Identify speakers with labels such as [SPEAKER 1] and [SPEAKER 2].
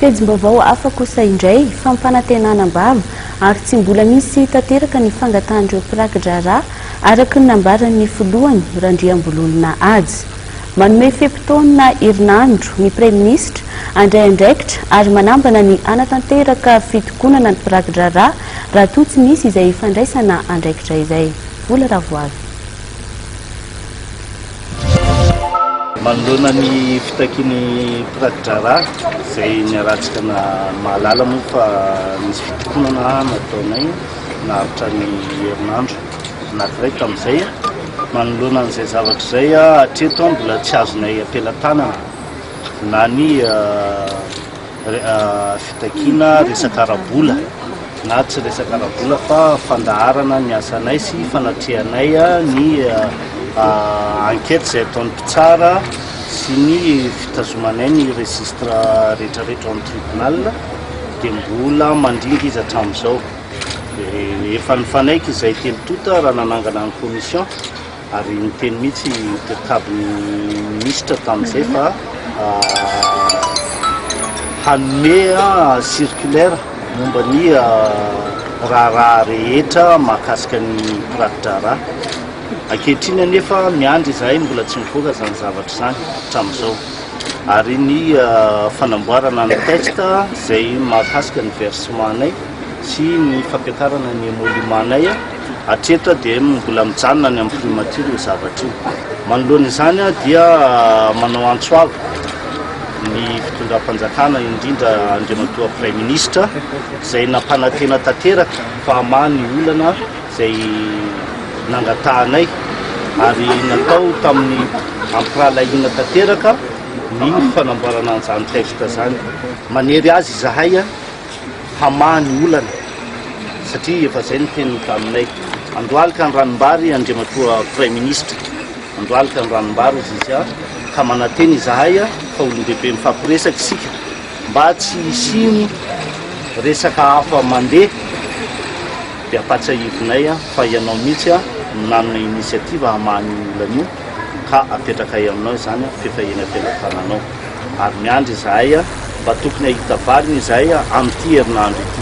[SPEAKER 1] Pejim-baovao hafa kosa indray, fampanantenana am-bava ary tsy mbola misy tanteraka ny fangatahan'ireo mpiraki-draharaha, araka ny nambaran'ny filohany, Randriambololona Haja. Manome fe-potoana herinandro ny praiminisitra handray andraikitra ary manambana ny hanatanteraka fitokonana ny mpiraki-draharaha raha toa tsy misy izay fandraisana andraikitra izay. Vola Ravoavy.
[SPEAKER 2] Manoloana ny fitakian'ny mpiraki-draharaha izay niharantsika na mahalala moa fa nisy fitokonana nataonay naharitra ny herinandro anankiray tamin'izay. Manoloana an'izay zavatra izay, hatreto mbola tsy azonay am-pelatanana na ny fitakiana resaka ara-bola na tsy resaka ara-bola fa fandaharana ny asanay sy fanatrehanay ny enquête izay ataon'ny mpitsara sy ny fitazomanay ny registre rehetrarehetra ao amin'ny tribunal dia mbola mandringa izy hatramin'izao dia efa nifanaiky izay telo tonta raha nanangana ny commission Ary niteny mihitsy i Cabinet-Minisitra tamin'izay fa hanome circulaire momba ny raharaha rehetra mahakasika ny mpiraki-draharaha. Ankehitriny anefa miandry izahay, mbola tsy mivoaka izany zavatra izany hatramin'izao. Ary ny fanamboarana ny texte izay mahakasika ny versement-nay sy ny fampiakarana ny emoluments-nay, Hatreto dia mbola mijanona any amin'ny primature io zavatra io. Manoloana izany dia manao antso avo ny fitondram-panjakana indrindra Andriamatoa Praiminisitra izay nampanantena tanteraka fa hamaha ny olana izay nangatahanay ary natao tamin'ny ampirahalahiana tanteraka ny fanamboarana an'izany texte izany. Manery azy izahay. hamaha ny olana satria efa zay ny teniny taminay. Andohalika ny ranombary Andriamatoa Praiminisitra, andohalika ny ranombary hozy izy a, ka manantena izahay a, fa olon-dehibe mifampiresaka isika mba tsy hisiany resaka hafa mandeha dia ampatsiahivinay a, fa ianao mihitsy a no nanome initiative hamaha an'io olana io ka apetrakay aminao izany a, f'efa eny am-pelatananao. ary miandry izahay mba tokony hahita valiny izahay amin'ity herinandro ity.